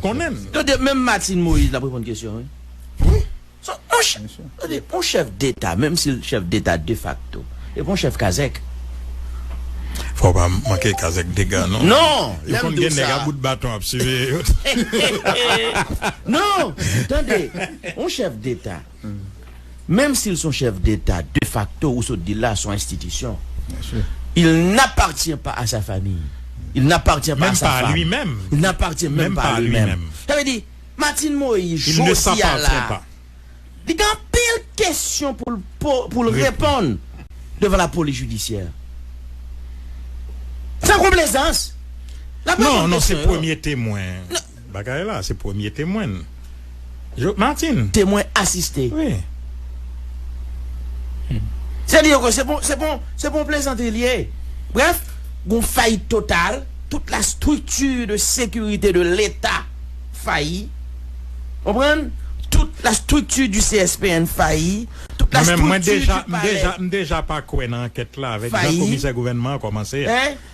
konnen l. Tande, menm Martine Moïse l ap reponn kesyon wi. Wi. Tande, yon chèf deta, menm si l chèf deta defakto, e pa yon chèf kazèk. Fò w pa manke kazèk dega non. Non! Lè m di w sa. Yo konn gen nèg a bout baton ap siveye yo. Non! Tande, yon chèf deta. Menm si l s on chèf deta de fakto, ou sot di l la, s on enstitisyon. Il n'appartient pas à sa famille. Il n'appartient pas à sa femme. Il n'appartient menm pa a li menm. Sa vle di, Martine Moïse, jodi a la, li gen anpil kesyon pou l po, pou l reponn devan la polis jidisyè. San konplezans, l ap reponn kesyon yo. Non, non, se premye temwen. Bagay la se premye temwen n. Yo Martine. Temwen asiste. Wi. Se dire ke se pou se pou se pou yon plezantri li ye. Bref, gon fayit total, tout la structure de securite de leta fayi. Konprann? Tout la structure du CSPN fayi, tout la structure du palais. Mwen deja, m deja pa kwè nan ankèt la avèk jan komisè gouvènman an kòmanse a.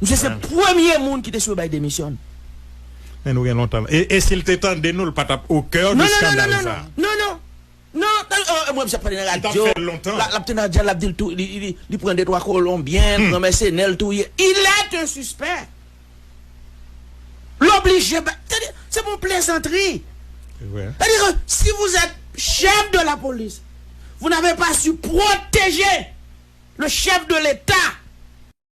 Misye se premye moun ki te swe bay demisyon. Men nou gen lontan. E si l te tande nou l pa tap o coeur de scandale sa. Non non non non mwen pap pale nan radyo lap te nan dyal lap dil tou li pran de twa kolonbyen pran mèsenè l touye il est un suspect l oblije bay se pou plezantri sètadi ke si vous êtes chef de la police vous n'avez pas su proteger le chef de l'Etat.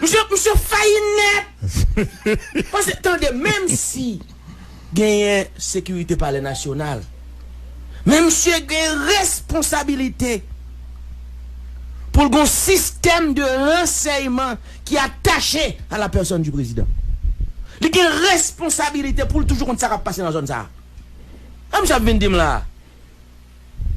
Misye fayi nèt! Paske tande menm si genyen sekirite palè nasyonal men misye gen responsabilite pou l gon sistèm de ransèyman ki atache a la pèsòn di prezidan. Li gen responsabilite pou l toujou konn sa k ap pase nan zòn sa a. Sa misye ap vin di m la a?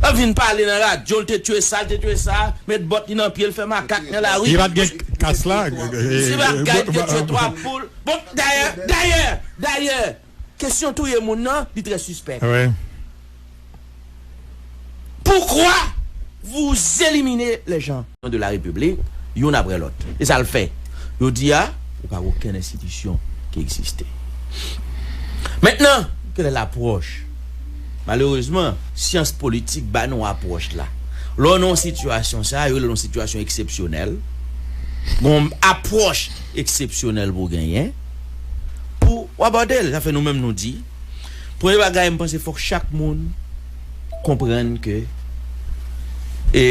Lap vin pale nan radio l te tue sa l te tue sa met bòt li nan pye l fè makak nan lari. Li pat gen kas la. Si bagay li te tue 3 poul bon dayè dayè dayè kesyon touye moun nan li trè sispèk. Pourquoi vous éliminez les gens? Prezidan de la Repiblik, youn aprè lòt. E sa l fè? Jodi a, li pa gen okenn enstitisyon ki egziste. Mentnan, kèlè lapwòch? Malerezman, syans politik ba nou apwòch la. Lè w nan yon sitiyasyon sa a, yo rele l yon sitiyasyon eksepsyonèl, gen yon apwòch eksepsyonèl pou w genyen pou w abòde l. Sa fè nou menm nou di, premye bagay, m panse fòk chak moun konprann ke e.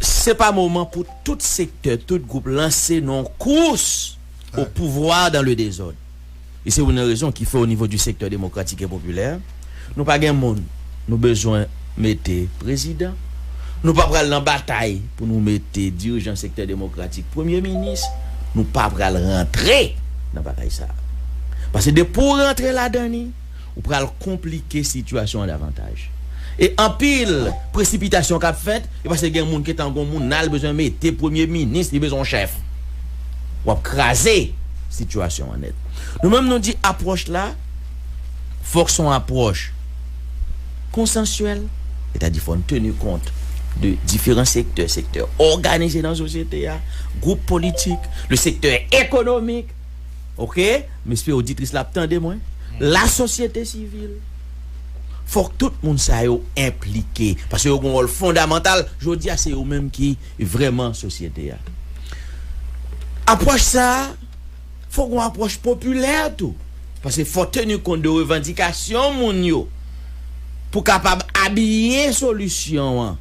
Se pa moman pou tout sektè, tout gwoup lanse nan yon kous au pouvoir dans le désordre. E se youn nan rezon ki fè onivo di sektè demokratik e popilè, nou pa gen moun nou bezwen mete prezidan, nou pa pral nan batay pou nou mete dirijan sektè demokratik premye minis, nou pa pral rantre nan batay sa a. Pase depi w rantre ladan li, ou pral konplike sitiyasyon an davantaj. E anpil presipitasyon kap fèt, e pase gen moun ketan gon moun nal bezwen mete premye minis li bezwen yon chèf. Wap kraze sitiyasyon an nèt. Nou menm nou di apwòch la fòk son apwòch konsansyèl, etadi fòn teni kont de diferan sektè, sektè òganize nan sosyete a, gwoup politik, le sektè ekonomik. Ok m espere oditris la ap tande mwen la sosyete sivil fok tout moun sa yo enplike paske yo gon wòl fondamantal jodi a se yo menm ki vrèman sosyete a apwòch sa fok gon apwòch popilè tou paske fò teni kont de revandikasyon moun yo pou kapab abiye solisyon an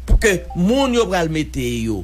pou ke moun yo pral mete yo.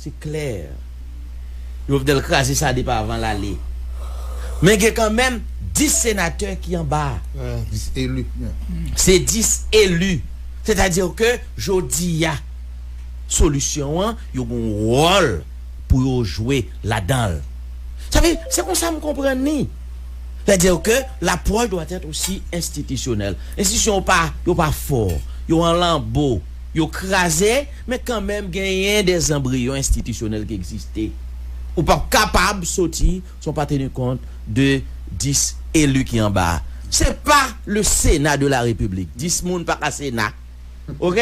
Se klè. Jovenel kraze sa depi avan l ale. Men gen kanmenm 10 senatè ki anba a. 10 elu. Se 10 elu. Sètadi ke jodi a solisyon an yo gen yon wòl pou yo jwe ladan l. Sa vle di, se konsa m konprann li. Sètadi ke lapwòch dwa èt osi enstitisyonèl. Enstitisyon yo pa fò. Yo an lanbo. Yo kraze, men kanmenm genyen de zanbriyon enstitisyonèl ki egziste. Ou p ap kapab soti san w pa teni kont de 10 eli ki anba a. Se pa le Sena de la Repiblik. 10 moun pa ka Sena. Ok?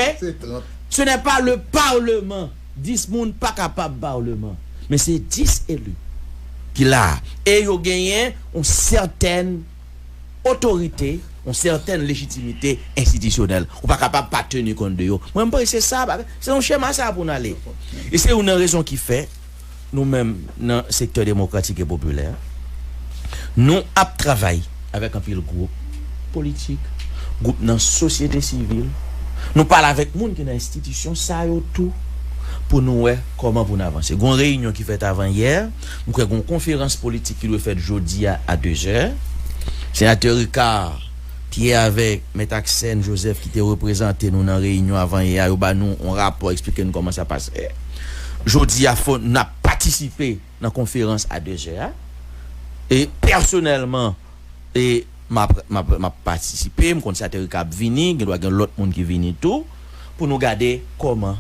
Se nè pa le Parleman. 10 moun pa kapab Parleman. Men se 10 eli ki la a. E yo genyen yon sètèn. otorite, yon sètèn lejitimite enstitisyonèl. Ou pa kapab pa teni kont de yo. Mwen panse se sa, se nan chema sa a pou n ale. E se youn nan rezon ki fè, nou menm nan sektè demokratik e popilè a, nou ap travay avèk anpil gwoup politik, gwoup nan sosyete sivil, nou pale avèk moun ki nan enstitisyon sa yo tou pou nou wè kòman pou n avanse. Gon reyinyon ki fèt avan yè. M kwè gen yon konferans politik ki dwe fèt jodi a a dezè. Senatè Ricard Pierre avèk Mèt Axène Joseph ki te reprezante nou nan reyinyon avan yè a yo ba nou yon rapò eksplike nou kòman sa pase. Jodi a fò n ap patisipe nan konferans a dezè a. E pèsonèlman e m ap patisipe, m konn senatè Ricard ap vini, gen dwa gen lòt moun ki vini tou. pou nou gade kòman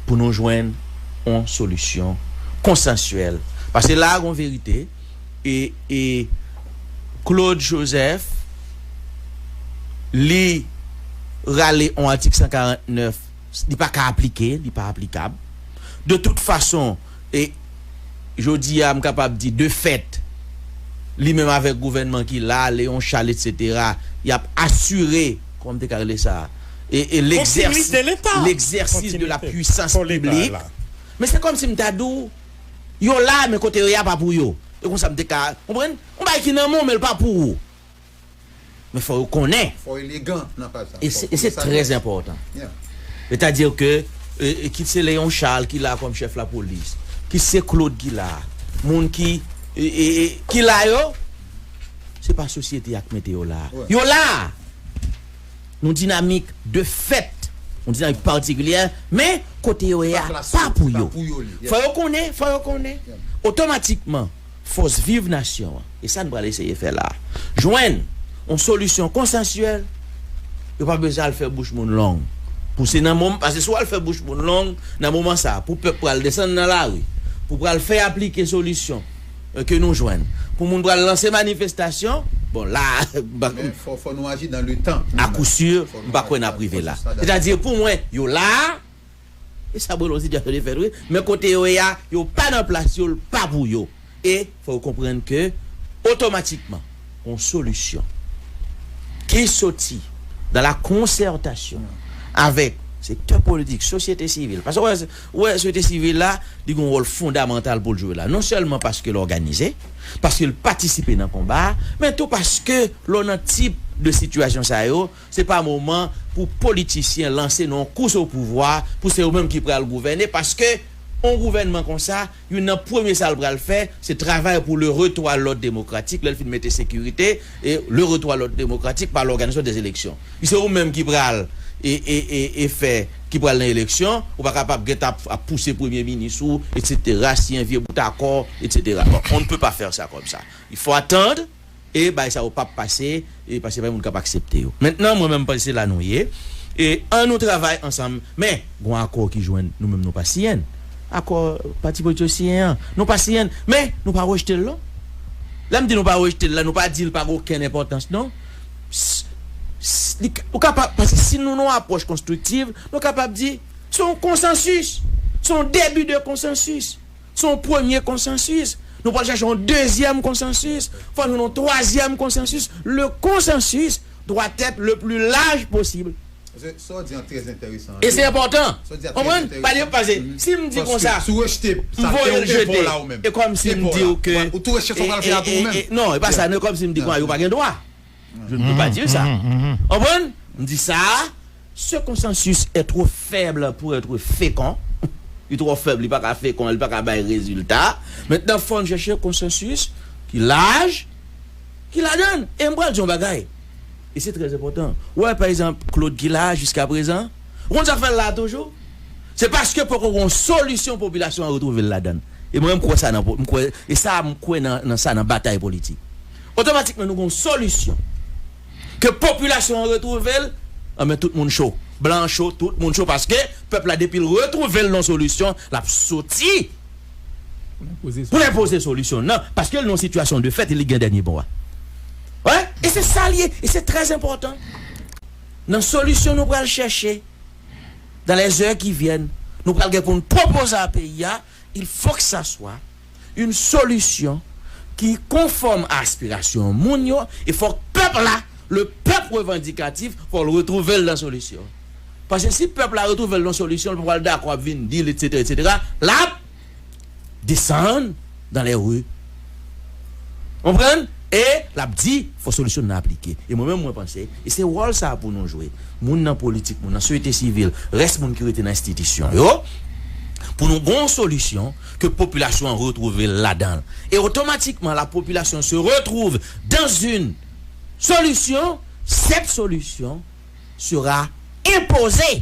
pou nou jwenn yon solisyon konsansyèl. Pase la a gon verite e e Claude Joseph li rale yon atik 149 li pa ka aplike, li pa aplikab. De tout fason. E jodi a m kapab di de fèt, li menm avèk gouvènman ki la, Léon Charles etsetera, y ap asire, kòman m te ka rele sa, e legzèsis de la pwisans piblik. Men se kòmsi m ta di w, yo la men kote yo ye a pa pou yo. E konsa m te ka, konprann? Yon bagay ki nan men w men l pa pou ou. Men fò yo konnen. Fò w elegan nan paj sa. E se trè enpòtan. Se ta di ke kit se Léon Charles ki la kòm chèf lapolis, kit se Claude ki la, moun ki ki la yo, se pa sosyete a ki mete yo la. Yo la! Yon dinamik de fèt, yon dinamik patikilyè, men kote yo ye a pa pou yo. Fò yo konnen, fò yo konnen. Otomatikman. Fòs viv nasyon an, e sa n pral eseye fè la a, jwenn yon solisyon konsansyèl, yo pa bezwen al fè bouch moun long pou se nan moman, paske si w al fè bouch moun long nan moman sa a pou pèp pral desann nan lari pou pral fè aplike solisyon ke nou jwenn, pou moun pral lanse manifestasyon, bon la a m pa kwè. Men fò nou aji dan le tan. A kou si, m pa kwè n ap rive la. Sètadi pou mwen yo la a. E sa bon lon sitiyasyon de fèt wi, men kote yo ye a, yo pa nan plas yo, l pa pou yo. E fò yo konprann ke otomatikman yon solisyon ki soti nan la konsètasyon avèk sektè politik, sosyete sivil, paske ou wè, ou wè sosyete sivil la, li gen yon wòl fondamantal pou l jwe la. Non sèlman paske l òganize, paske l patisipe nan konba a, men tou paske lè w nan tip de sitiyasyon sa yo, Se pa moman pou politisyen lanse nan yon kous opouvwa pou se yo menm ki pral gouvène paske yon gouvènman konsa youn nan premye sa l pral fè se travay pou le retou a lòd demokratik lè l fin mete sekirite e le retou a lòd demokratik pa lòganizasyon dè eleksyon pi se ou menm ki pral e e e e fè ki pral nan eleksyon ou pa ka pa gen tan ap pouse premye minis ou etsetera siyen vye bout akò etsetera bon on ne peut pas faire ça comme ça il faut attendre. E bagay sa yo pap pase e paske pa gen moun kap aksepte yo. Mentnan mwen menm panse se la nou ye e an nou travay ansanm men gon akò ki jwenn nou menm nou pa siyenn akò pati politik yo siyen an nou pa siyenn men nou pa rejtel non lèm di nou pa rejtel la nou pa dil pa gen okenn enpòtans non s li ou ka pa paske si nou nan yon apwòch konstriktiv nou kapab di son konsansis son debi de konsansis. Se yon premye konsansis. Nou pral chache yon dezyèm konsansis. Fò nou yon twazyèm konsansis. Le consensus doit être le plus large possible. Sa w di an trè enteresan. E se enpòtan. Konprann? Pale pase. Si m di konsa. Si w rejte, sa fè w epo la ou menm. Epo la. Ou tou rejte sa w pral fè a tou ou menm. Non, e pa sa. E kòm si m di konsa yo pa gen dwa. Je ne peux pas dire ça. Konprann? M di sa a, Ce consensus est trop faible pour être fécond. Li twò fèb, li pa ka fekon, li pa ka bay rezilta. Mentnan fò n chèche konsansis ki laj, ki ladan l. E m pral di yon bagay, e se trè enpòtan. Ou wè, pa egzanp, Claude ki la a jiskaprezan, ou konn sa k fè l la a toujou? Se paske poko gen yon solisyon popilasyon an retwouve l ladan l. E mwen menm m kwè sa nan, m kwè, e sa a m kwè nan sa nan batay politik. otomatikman nou gen yon solisyon ke popilasyon an retwouve l, anben tout moun cho. Blan an cho, tout moun cho paske pèp la depi l retwouve l nan solisyon, l ap soti pou l enpoze solisyon l nan paske l nan yon sitiyasyon de fèt e li gen dènye mo a. Wè? E se sa l ye. E se trè enpòtan nan solisyon nou pral chèche dan lè zè ki vyèn, nou pral gen pou n pwopoze a peyi a. Il faut que ça soit une solution ki konfòm a aspirasyon moun yo e fòk pèp la, le peuple revendicatif, fò l retwouve l nan solisyon an. Paske si pèp la retwouve l nan solisyon l pa pral dakò ap vin di l etc etc l ap desann dans les rues Konprann? E l ap di, fò solisyon nan aplike. E mwen menm mwen panse, e se wòl sa a pou nou jwe, moun nan politik, moun nan soyete sivil, rès moun ki rete nan enstitisyon yo, pou nou gen yon solisyon ke popilasyon an retwouve l ladan l. E otomatikman la popilasyon se retwouve dan zin solisyon, sèt solisyon sera enpoze.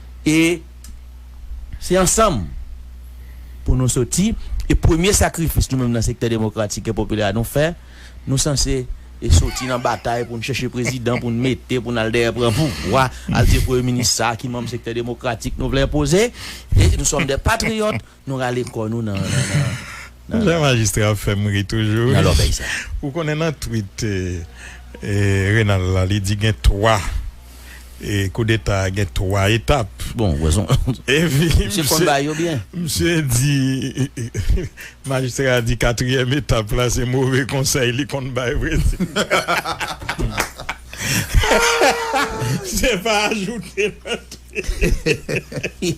E se ansanm pou nou soti, e premye sakrifis nou menm nan sektè demokratik e popilè a nou fè, nou sanse soti nan batay pou n chèche prezidan pou n mete pou n al dèyè pran pouvwa, al di premye minis sa ki manm sektè demokratik nou vle enpoze, e nou sòm dè patriyòt. Nou rale kò nou nan nan nan. Jan majistra ap fèm ri toujou nan lòbèy sa. Ou konnen nan twit Renald la li di gen 3 koudeta gen 3 etap. Bon wè son epi misye konn bay yo byen. Misye di majistra di katriyèm etap la se move konsèy li konn bay vre se pa ajoute nan twit.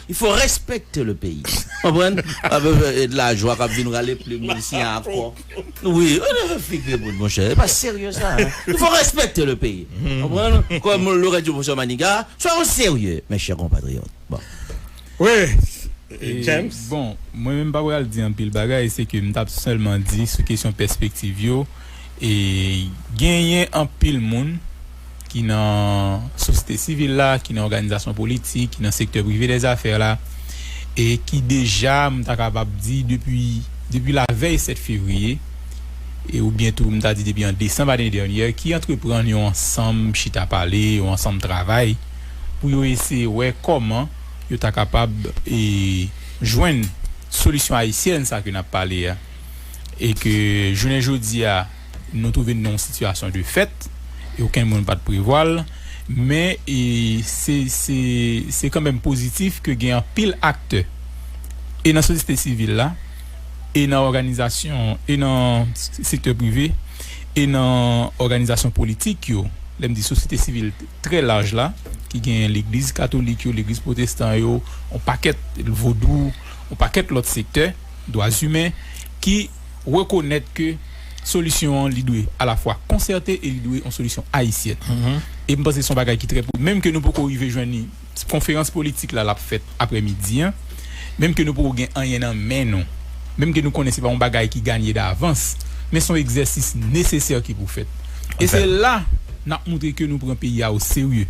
Il faut respecter le pays konprann e de la joie kap vin rale plume li si a kò wi figure moun mon cher e pa serieux sa il faut respecter le pays konprann comme l'aurait dit professeur Maniga soyons serieux mes chers compatriotes bon oui James bon mwen menm pa pral di anpil bagay se ke m tap sèlman di sou kesyon pèspektiv yo e genyen anpil moun. ki nan sosyete sivil la, ki nan òganizasyon politik, ki nan sektè prive dè zafè la, e ki deja, m ta kapab di, depi, depi lavèy 7 fevriye, e oubyen tou m ta di depi an desanm ane dènyè, ki antreprann yon ansanm chita pale, yon ansanm travay, pou yo eseye wè kòman yo ta kapab e jwenn solisyon ayisyèn sa ke n ap pale a, e ke jounen jodi a. Nou twouve n nan yon sitiyasyon de fèt e okenn moun pa t prevwa l. Men, se kanmenm pozitif ke gen anpil aktè e nan sosyete sivil la e nan òganizasyon e nan sektè prive e nan òganizasyon politik yo, lè m di sosyete sivil trè laj la, ki gen legliz katolik yo, legliz pwotestan yo, yon pakèt, vodou, yon pakèt lòt sektè, dwazimen, ki. rekonèt ke solisyon an li dwe alafwa konsète e li dwe yon solisyon ayisyèn. E m panse se yon bagay ki trè po, menm ke nou poko rive jwenn li, konferans politik la l ap fèt aprè midi an, menm ke nou poko gen anyen nan men nou, menm ke nou konnen se pa yon bagay ki ganye davans, men se yon egzèsis nesesè ki pou fèt. E se la n ap montre ke nou pran peyi a o serye.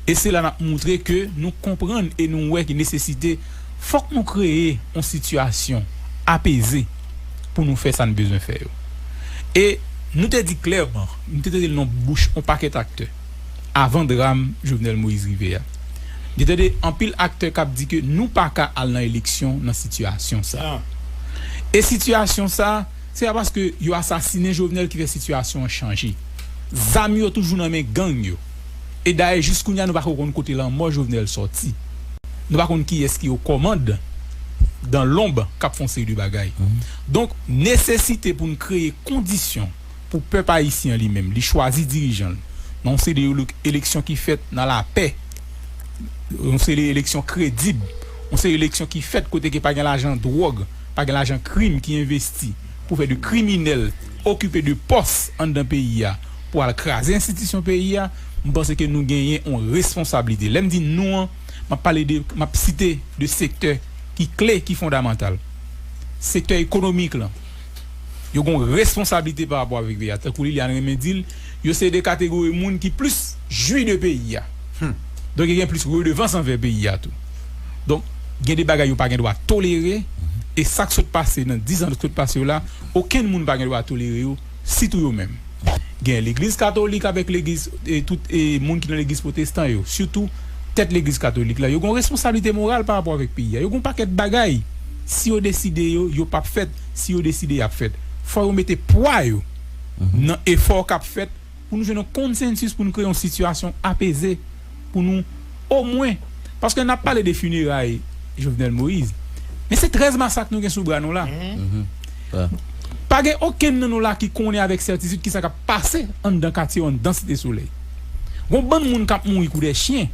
e se la nap moutre ke nou konprann e nou wè ki nesesite fòk nou kreye yon sitiyasyon apeze pou nou fè sa n bezwen fè yo. E nou te di klèman, nou te tande nan bouch yon pakèt aktè avan dram Jovenel Moïse rive a, nou te tande anpil aktè kap di ke nou pa ka al nan eleksyon nan sitiyasyon sa a. E sitiyasyon sa a, se pa paske yo asasinen Jovenel ki fè sitiyasyon an chanje. Zam yo toujou nan men gang yo. E dayè jis kounye a nou pa ko konn kote lanmò Jovenel sòti. Nou pa konn kiyès ki o kòmand dan lonb kap fon seri de bagay. Donk nesesite pou n kreye kondisyon pou pèp ayisyen an li menm li chwazi dirijan l nan yon seri de eleksyon ki fèt nan lapè, yon seri de eleksyon kredib, yon seri eleksyon ki fèt kote ke pa gen lajan dwòg, pa gen lajan krim ki envesti pou fè de kriminèl okipe de pòs anndan peyi a. pou al kraze enstitisyon peyi a, m panse ke nou genyen yon responsablite. Lè m di nou an, m ap pale de, m ap site de sektè ki kle, ki fondamantal. Sektè ekonomik lan, yo gen yon responsablite pa rapò avèk peyi a. Tankou Liliane renmen di l, yo se de kategori moun ki plis jwi de peyi a. Donk yo gen plis redevans anvè peyi a tou. Donk gen de bagay yo pa gen dwa tolere, e sa k sot pase nan dizan k sot pase yo la, okenn moun pa gen dwa tolere yo. Sitou yo menm. Gen legliz katolik avèk legiz e tout e moun ki nan legliz pwotestan yo, sitou tèt legliz katolik la, yo gon responsablite moral pa rapò avèk peyi a. Yo gon pakèt bagay, si yo deside yo, yo pap fèt, si yo deside yap fèt. Fò yo mete pwa yo nan efò kap fèt. pou nou jwenn yon konsensis pou nou kreye yon sitiyasyon apeze pou nou omwen paske nap pale de fineray Jovenel Moïse men se 13 masak nou gen sou bra nou la pa gen okenn nan nou la ki konnen avèk sètitid kisa kap pase anndan katye yo anndan Site Solèy gon bann moun kap mouri kou dè chyen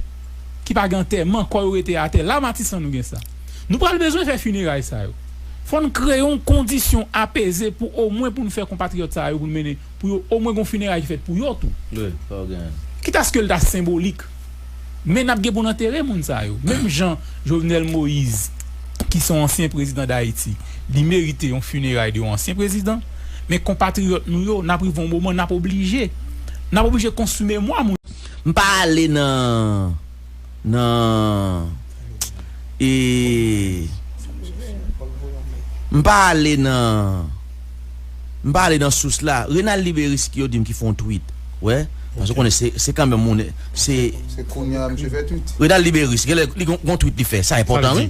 ki pa gen antèman kò yo rete atè la Matisan nou gen sa nou pral bezwen fè fineray sa yo fòn kreye yon kondisyon apeze pou omwen pou nou fè konpatriyòt sa yo pou nou mennen Pou yo omwen gon fineray ki fèt pou yo tou. Wi, fò gen. Kit aske l ta senbolik. Men n ap gen pou n antere moun sa yo. Menm jan Jovenel Moise ki s on ansyen prezidan Dayiti, li merite yon fineray de yon ansyen prezidan, men konpatriyòt nou yo, n ap rive yon moman n ap oblije. N ap oblije konstwi memwa moun. M pa ale nan. nan e m pa ale nan m pa ale nan sous la Renal Liberyski yo di m ki fon twit wè paske ou konnen se kanmenm moun se Renal Liberyski genlè li gon twit li fè sa enpòtan wi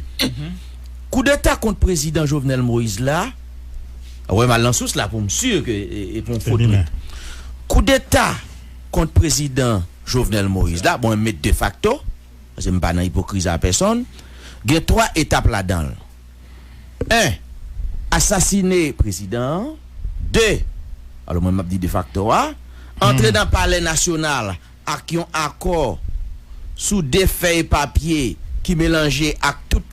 koudeta kont prezidan Jovenel Moïse la wè m al nan sous la pou m si ke e pon fo twit koudeta kont prezidan Jovenel Moïse la, mwen met de facto, paske m pa nan ipokrizi a pèsonn, gen 3 etap ladan l. 1, Asasine prezidan an. 2, alò mwen m ap di de facto a, antre nan palè nasyonal ak yon akò sou 2 fèy papye ki melanje ak tout.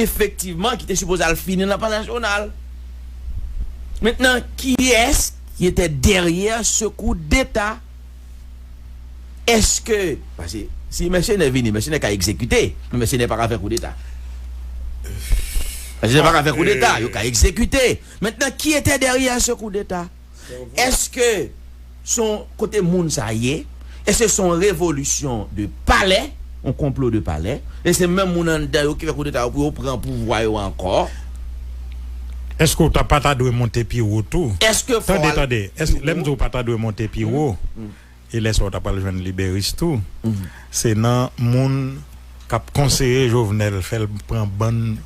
efektivman ki te sipoze al fini nan Palè Nasyonal. Mentnan kiyès ki te dèryè se kout deta? Eske, pase si mèsenè vini, mèsenè ka egzekite, men mèsenè pa ka fè kout deta. Mèsenè pa ka fè kout deta, yo ka egzekite. Mentnan ki te dèryè se kout deta? Eske son kote moun sa ye? Eske son revolisyon de palè? On konplo de palè? E se menm moun anndan yo ki fè koudeta yo pou yo pran pouvwa yo ankò? Eske ou ta pa ta dwe monte pi wo tou? Eske fò al pi wo? Tande, tande, eske lè m di ou pa ta dwe monte pi wo, e lè sa ou ta pral jwenn liberis tou, se nan moun k ap konseye Jovenel fè l pran bann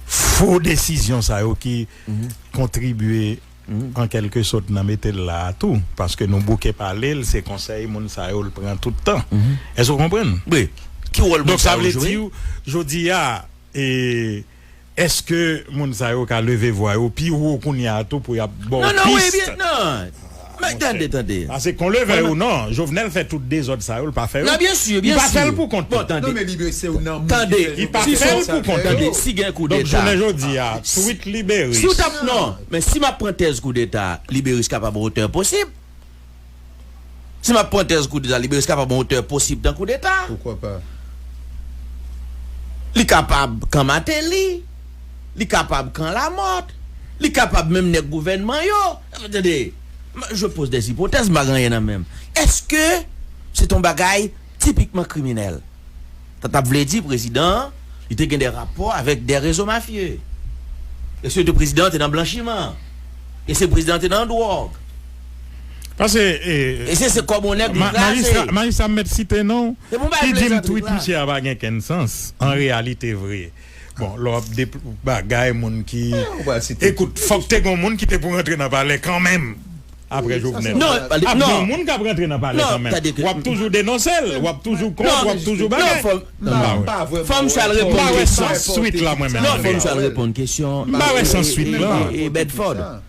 fo desizyon sa yo ki kontribye an kèlke sot nan mete l la a tou paske nou bouke pale l se konsèy moun sa yo l pran tout tan èske ou konprann donk sa vle di w jodi a èske moun sa yo ka leve vwa yo pi wo kounye a tou pou y ap ba w pis paske kon leve ou non Jovenel fè tout dezòd sa yo l pa fè yo li pa fè l pou kont li tande li pa fè l pou kont li donk jounen jodi a tweet libere. Men si m ap pran tèz koudeta, Liberis kapab yon otè posib. Si m ap pran tèz koudeta, Liberis kapab yon otè posib dan koudeta. Poukwa pa? Li kapab kan Mateli, li kapab kan Lamòt, li kapab menm nèg gouvènman yo. Tande, je pose des hypothèses, m pa gen anyen nan men m. Èske se t yon bagay tipikman kriminèl? Sa tap vle di prezidan an li te gen de rapò avèk de rezo mafye. E se te prezidan an te nan blanchiman. E se prezidan an te nan dwòg. Pase e se se kòb yon nèg li kraze. Majistra m mèt site non. Ki di m tweet misye a pa gen kenn sans. An reyalite vre. Bon lè wap de bagay moun ki ekout fòk te gon moun ki te pou rantre nan palè kanmenm aprè Jovenel non ap gon moun kap rantre nan palè kanmenm wap toujou denonsel wap toujou kont wap toujou bagay fòm sa l reponn kesyon m pa wè sans swit la mwen menm m pa wè sans swit lan.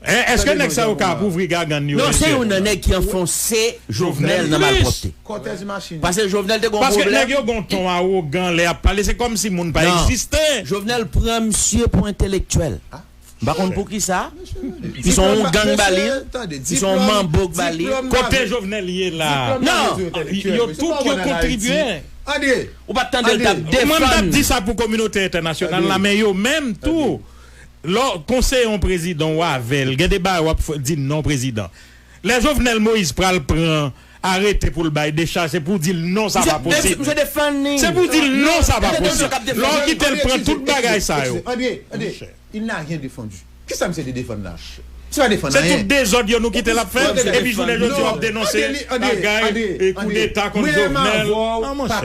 Hein eske neg sa yo ka ap ouvri gagann yo Non se yon nan neg ki anfonse Jovenel nan malpwopte Pase Jovenel te gon pwoblem Paske neg yo gon ton awogan lè yap pale se komsi moun pa egziste Nan Jovenel pran misye pou entelektyel M pa konn poukisa Ti son yon gang ba li Ti son yon manbo k ba li Kote Jovenel ye la Nan Yo tout yo kontribye Ou pat tandel tap defann Mwen m tap di sa pou kominote entènasyonal la men yo menm tou Lè w konseye yon prezidan w avè l, gen de bagay w ap fè, di non prezidan. Lè Jovenel Moïse pral pran arete pou l bay dechaj, se pou w di l non sa pa posib. Se pou w di l non sa pa posib. Lè w kite l pran tout bagay sa yo. Se tout dezòd yo nou kite l ap fè, epi jounen jodi w ap denonse bagay koudeta kont Jovenel. An monchè.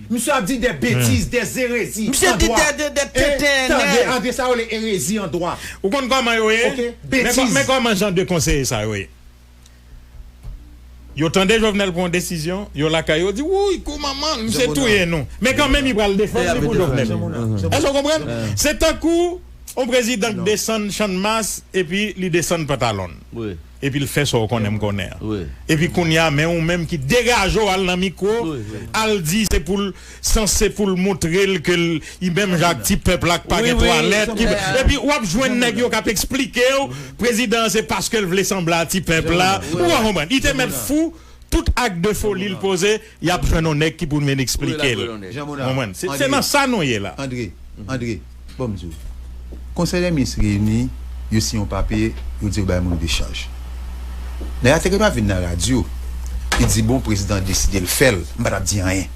Misye ap di dè betiz, dè zerezi an dwa. Misye di dè de dè tenten en èv. Tande, André, sa yo rele erezi an dwa. Ou konn kòman yo ye? Ok, betiz. Men kòman jan de konseye sa yo ye. Yo tande Jovenel pran yon desizyon, yo lakay yo, yo di, wouy, kou manman, misye touye nou. Men kan menm li pral defann li pou Jovenel. Èske ou konprann? Se tankou yon prezidan k desann Channmas epi li desann pantalon l. Epi l fè sa w konnen m konnen an. Epi kounye a men ou menm ki degaje w al nan mikwo al di se pou l sanse pou l montre l ke l i menm jan ak ti pèp la k pa gen twalèt ki epi w ap jwenn nèg yo k ap esplike w prezidan an se paske l vle sanble a ti pèp la ou pa konprann li te mèt fou tout ak de foli l poze. Yap jwenn yon nèg ki pou vin esplike l. Konprann? Se nan sa nou ye la. Andre, Andre, bon m di w. Konsèy dè minis reyini, yo siyen yon papye, yo di yo bay moun dechaj. Nèg la te gen dwa vin nan radyo, li di bon prezidan deside l fè l, m pa t ap di anyen.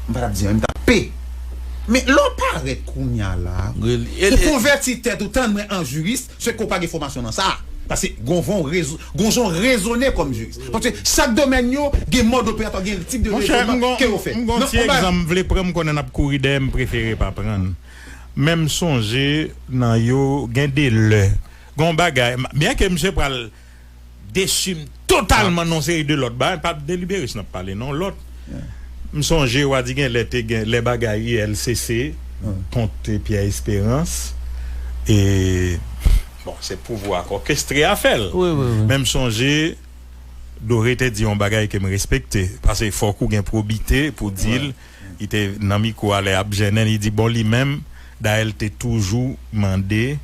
M pa t ap di anyen, m t ap p. Men lè w parèt kounya la, ou konvèti tèt ou, tann mwen an jiris, Se ke w pa gen fòmasyon nan sa. Paske gon von rezo, gon jan w rezone kòm jiris. Paske chak domèn yo gen mòd operatwa w, gen tip de Monchè, rezonman m ke yo fè. gon, m gon ti egzanp m vle pran m konnen n ap kouri dèyè m prefere pa pran l. Men m sonje nan yo gen de lè, gon bagay, byenke misye pral. desim totalman non se de lot bagay pap de liberis nap pale non lot m sonje wa di gen lè te gen lè bagay ulcc kont pyè esperans e bon se pouvwa ak okestre a fèl men m sonje dore te di yon bagay kem respekte pase fok ou gen pwobite pou dil. Li te nan mikwo a lè yap jennen li di bon li menm dayè li te toujou mande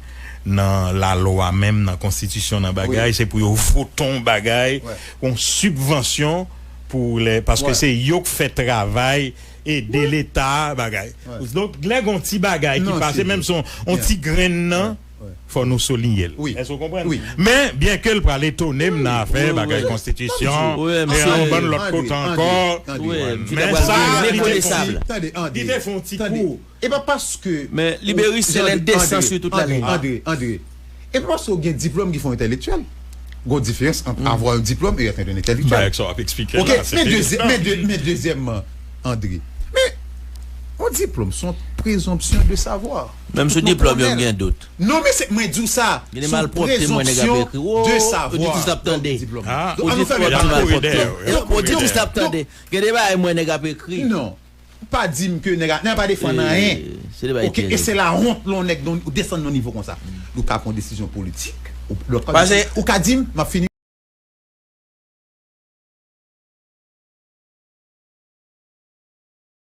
nan lalwa menm nan konstitisyon nan bagay se pou yo vote on bagay on sibvansyon pou lè paske se yo k fè travay ede leta bagay donk lè gon ti bagay ki pase menm son on ti grenn nan. fò nou soulinye l. Èske w konprann? Men, byenke l pral etone m nan afè bagay konstitisyon e yon bann lòt kote ankò, men sa li te fon ti tande, li te fon ti kou. E pa paske w gen diplòm ki fè w entèlektyèl. Gen yon diferans ant avwa yon diplòm e èt yon entèlektyèl. Ok, men dezyèmman, André, men yon diplòm se yon prezonpsyon de savwa. Menm sou diplòm yo m gen dout. Non mesye mwen diw sa sou prezonpsyon de savwa. Ou di twòp ti malpwòpte. Ou di twòp lap tande. Gen de bagay mwen nèg ap ekri. Non. Pa dim ke nèg ap defann anyen. Ok e se la honte lè yon nèg desann nan nivo konsa. Ou ka pran desizyon politik. Ou ka dim map fini.